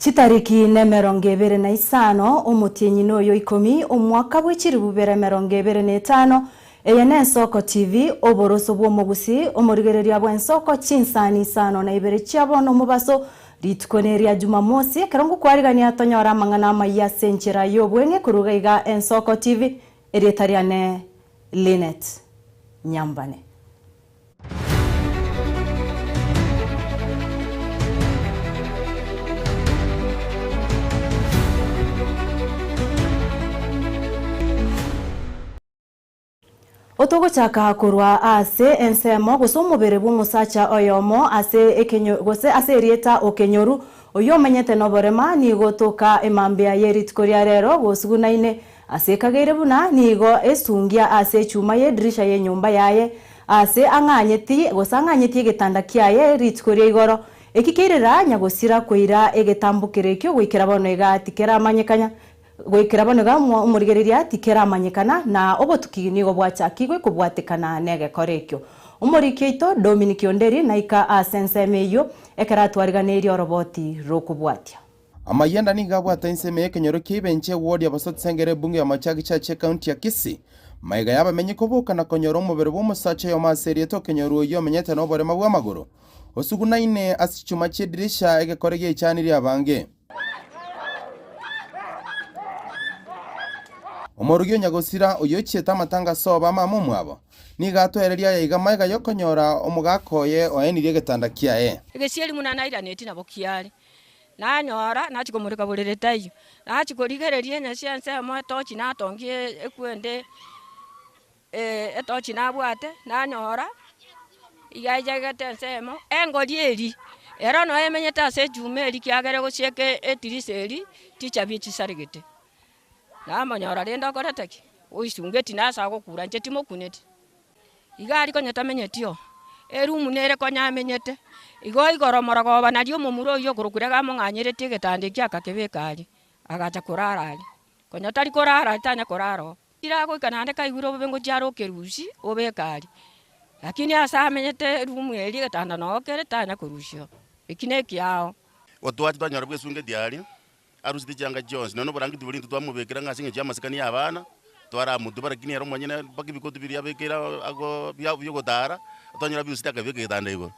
Chitariki nemerongo ebere na isano, omotienyi noyo ikomi, omwaka bwe chiribu bere emerongo ebere na etano, eye nensoko chivi, oboroso bwomogusi, omorigereria bwensoko, chinsani isano na ibere chiabo nomobaso, rituko neria Jumamosi, ekero ngokwarigania tonyore amang'ana amayia ase enchera yobweng'e korwa iga iga ensoko chivi, erieta riane Lynette Nyambane. Otogochaka korwa ase ensemo gose omobere bw'omosacha oyomo ase ekenyo gose ase erieta okenyoru, oyio omenyete noborema, nigo toka emambia ye rituko ria rero gosugunaine Ase ekageire buna nigo esungia ase echuma y'edirisha y'enyomba yaye, aase ang'anyeti gosang'anyeti egetanda kiaye rituko ria igoro, eki keirera nyagosira koira egetambo kere ekio goikera bono iga tikeramanyekana, goikera bono iga omorigereria tikeramanyekana, na obotuki nigo bwachakigwe kobwatekana n'egekora ekio. Omoriki oito Dominiki Onderi naika ase ensemo eyio ekero atwariganeirie oroboti rokobwatia. Amayanda nigo abwate ensemo y'ekenyoro kia Ibenche egwori abasatsa engere ebungo y'amache agichache ekaunti ya Kisii. Maiga y'abamenyi koboka na konyora omobere bw'omosacha oyomo ase erieta okenyoro oyio omenyete noborema bw'amagoro osugunaine ase chichuma chi'edirisha egekore giaichanirie abange. Omorogi o Nyagosira, oyio ochiete amatanga ase obama amo omwabo, nigo atoereria ayaiga maiga y'okonyora omogaka oye oenirie egetanda kiaye. Egesieri buna nairaneti nabo kiare, Nanyora nachia komoreka borere taiyo, nachia korigereria enyasi ensemo etochi natongia ekwende etochi nabwate, nanyora iga echegete ensemo, engori eri ero noyo emenyete ase echuma eri kiagera egosieka etirisa eri tichabi chisaregete, namonyora rende okorete ki? Oisungeti nasa gokura inche timokuneti. Iga aria konya tamenyetio, erumu nere konya amenyete. Igo igoro moragobana aria omomura oyio okorokire gamong'anyeretie egetanda ekio agakebeka aria, agacha korara aria. Konya tari korara aria tanya korara oo. Ira agoika naende kaigure obobe ngochia are okerusia obeke aria. Lakini ase amenyete erumu eria egetanda noo kere tanya korusia oo. Eki nekiao. Gotwati twanyora bwesungeti aria, Arusete chianga chionsi, nonya noborange tibori intwe twamobekera ng'a ase engencho y'amasikani y'abana, twaramotube, rakini ere omonyene mpaka ebikoto biria abekeire agwo bia bi'ogotara, twanyora abirusete akabeka egetanda igoro.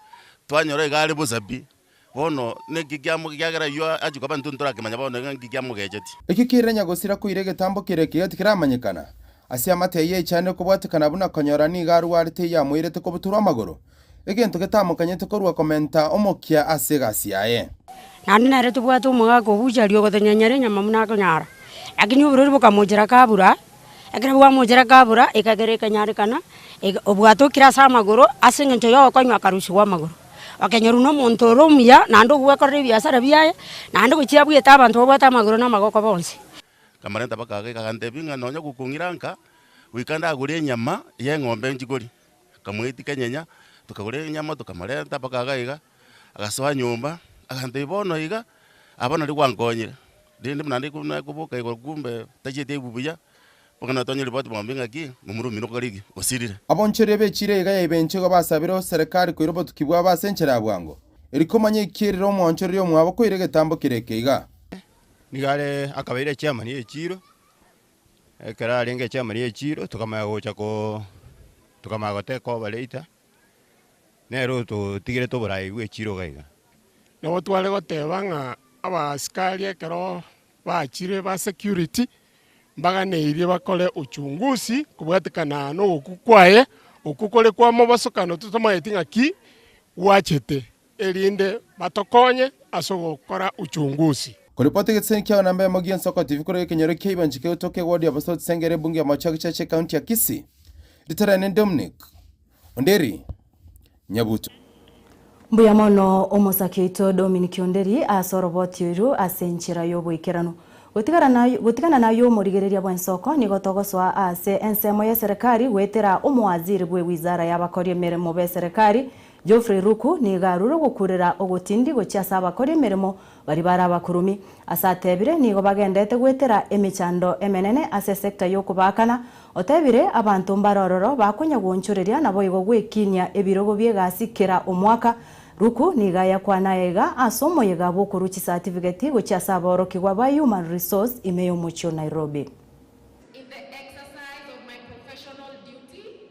Twanyora iga are bosa pi, bono naki kiamo kiagera aywo achia koba intwe ntorakemanya bono iga nki kiamogechetie. Ekio kirenya gosira koira egetambo keria ekiya tikiramanyekana. Ase amato yaye echande kobwatekana buna konyora nigo arwarete yamoirete kobutorwa amagoro, Egento getamokanyete korwa komenta omokia ase egasi yaye. Naende nere tobwate omogaka ogocha aria ogotonyenyera enyama buna akonyara. Lakini oborori bokamochera kabura, ekero bwamochera kabura, ekagera ekanyarekana, obwato okire ase amagoro ase engencho y'ogokonywa akarusigwa amagoro. Okenyorwa nomonto ore omuya naende ogwekorera ebiasara biaye, naende gochia abwete abanto babwate amagoro na amagoko bonsi. Nkamarenta mpaka gaka, agantebia ng'a nonya gokong'ira nka, goika ndagore enyama y'eng'ombe nchikori. Akamoetia kenyenya, tokagora enyama tokamorenta mpaka iga iga, agasoa nyomba, agantebia bono iga, aba nari gwankonyire, rende buna naende korwa nakoboka igoro kumbe tachieti aigwe buya, mpaka natwanye ripoti bono bing'a ki, momura omino kwarigi osirire. Abonchoria b'echira iga yaibenchigwa basabire oserekari koira obotuki bwabo ase enchera ya bwango. Eri komanya ekierire omwanchoreria omwabo koira egetambo kere eke iga. Nigo are akabaira echiamani y'echiiro, Ekero arenge chiama ria echiiro tokamanya gocha ko tokamanya goteba koba later, nere ototigerete oborai bwe echiiro iga iga. Nabo tware goteba ng'a abasikari ekero bachire ba security mbaganeirie bakore uchunguzi kobwatekana nogokwa kwaye, okwo kore kwa mobosokano totamanyeti ng'aki gwachete. erinde batokonye ase ogokora uchungusi. Koripoti egeseseni kia Wanamba Yamo Gionsi Oko TV korwa ekenyoro kia Ibanchika egotoka ewodi ya Bosauti Senga ere ebunge ya Maocho ya Gechacha ekaunti ya Kisii. Rita riane ni Dominic Onderi Nyabuto. Mbuya mono omosake oito Dominic Onderi ase oroboti oiru ase enchera y'oboikeranu. Gotigana nayio omorigereria bw'ensoko nigo togosoa aase ensemo y'eserekari goetera omowaziri bwe wizara y'abakori emeremo b'eserekari Geoffrey Ruku nigo arure ogokurera ogotindi gochia ase abakori emeremo baria bare abakurumi. Ase atebire nigo bagendete goetera emechando emenene ase esector y'okobaakana. Otebire abanto mbare ororo bakonya goonchoreria naboigo gwekinia ebirogo bi'egasi kera omwaka. Ruku nigo ayakwana aya iga ase omoyega bw'okorua chisatifiketi gochia ase aborokigwa ba Human Resource ime y'omochie o Nairobi. In the exercise of my professional duty,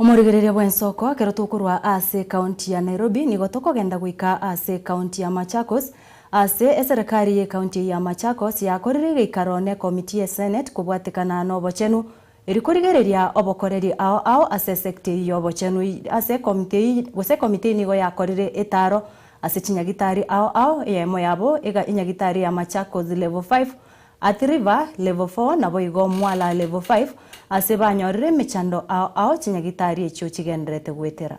Omorigereria bw'ensoko, ekero tokorwa aase ekaunti ya Nairobi nigo tokogenda goika aase ekaunti ya Machakos. Aase, eserekari y'ekaunti eye ya Machakos yakorire egeikaro n'ekomiti ye Senate kobwatekana n'obochenu eri korigereria obokoreri ao ao ase esecta eyio y'obochenu. Ase ekomiti eyio gose ekomiti eyio nigo yakorire etaro ase chinyagitari ao ao, eyemo yabo ega enyagitari ya Machakos Level Five At river level four naboigo mwala level five ase banyorire emechando ao ao chinyagitari echio chigendererete goetera.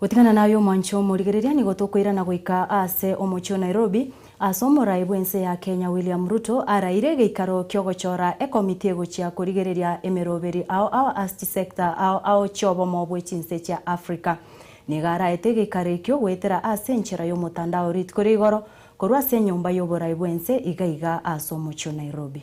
Gotigana naye omwancho omorigereria nigo tokoirana goika aase omochie o Nairobi aase omorai bw'ense ya Kenya William Ruto araire egeikaro kiogochora ekomiti egochia korigereria emeroberi ao ao ass chisector ao ao chiobomo bw'echinse chia Africa. Nigo araete egeikaro ekio goetera aase enchera y'omotandao riitko ria igoro korwa ase enyomba y'oborai bw'ense igaiga aase omochie o Nairobi.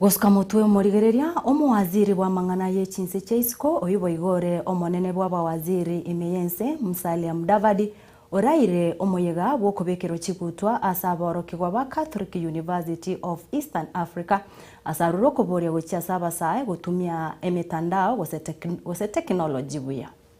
Gosuka motwe omorigereria omowaziri bw'amang'ana ye chinse chia isiko oyio boigo ore omonene bw'abawaziri ime y'ense, Musalia Mudavadi, oraire omoyega bw'okobekerwa chigutwa ase aborokigwa ba Catholic University of Eastern Africa ase arure okoboria gochia ase abasae gotumia emetandao gose tekinoloji buya.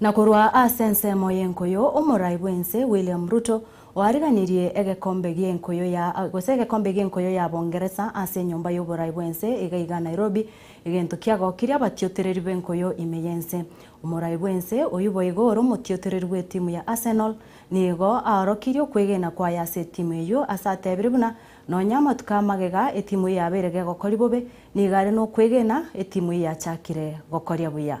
Na korwa ase ensemo y'enkuyu, omorai bw'ense William Ruto oariganirie egekombe gi'enkuyu ya gose egekombe gi'enkuyu ya Bongeresa ase enyomba y'oborai bw'ense iga iga Nairobi, egento kiagokirie abatiotereri b'enkuyu ime y'ense. Omorai bw'ense oyio boigo ore omotiotereri bw'etimu ya Arsenal, nigo aorokirie okwegena kwaye ase etimu eyio ase atebire buna nonya amatuko a magega etimu yabeire gegokoria bobe, nigo are nokwegena etimu eyio yachakire gokoria buya.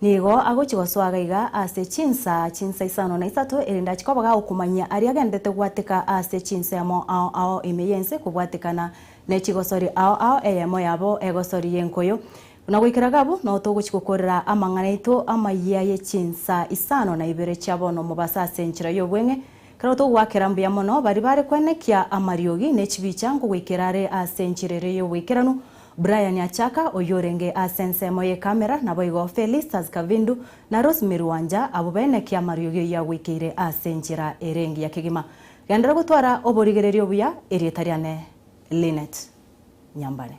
Nigo agochia gosoa iga iga ase chinsa chinsa isano na isato, erinde achie koboga okomanyia aria agenderete gobwateka ase chinsa emo ao ao ime y'ense kobwatekana ne chigosori ao ao eyemo yabo egosori y'enkoyo. Buna goikera gabu noo togochia gokorera amang'ana aito amayia ye chinsa isano na ibere chia bono mobaso ase enchera y'obweng'e. Ekero togoakera mbuya mono baria bare kwenekia amariogi ne chibicha nkogoikera are ase enchera ere y'oboikeranu, Brian Achaka oyorenge ase ensemo y'ekamera naboigo Felistas Kavindu na Rosemary Wanja abwo bene kiamariogi oyagwekeire ase enchera ere engiya kegima. Genderera gotwara oborigereria obuya, erieta riane Lynnet Nyambane.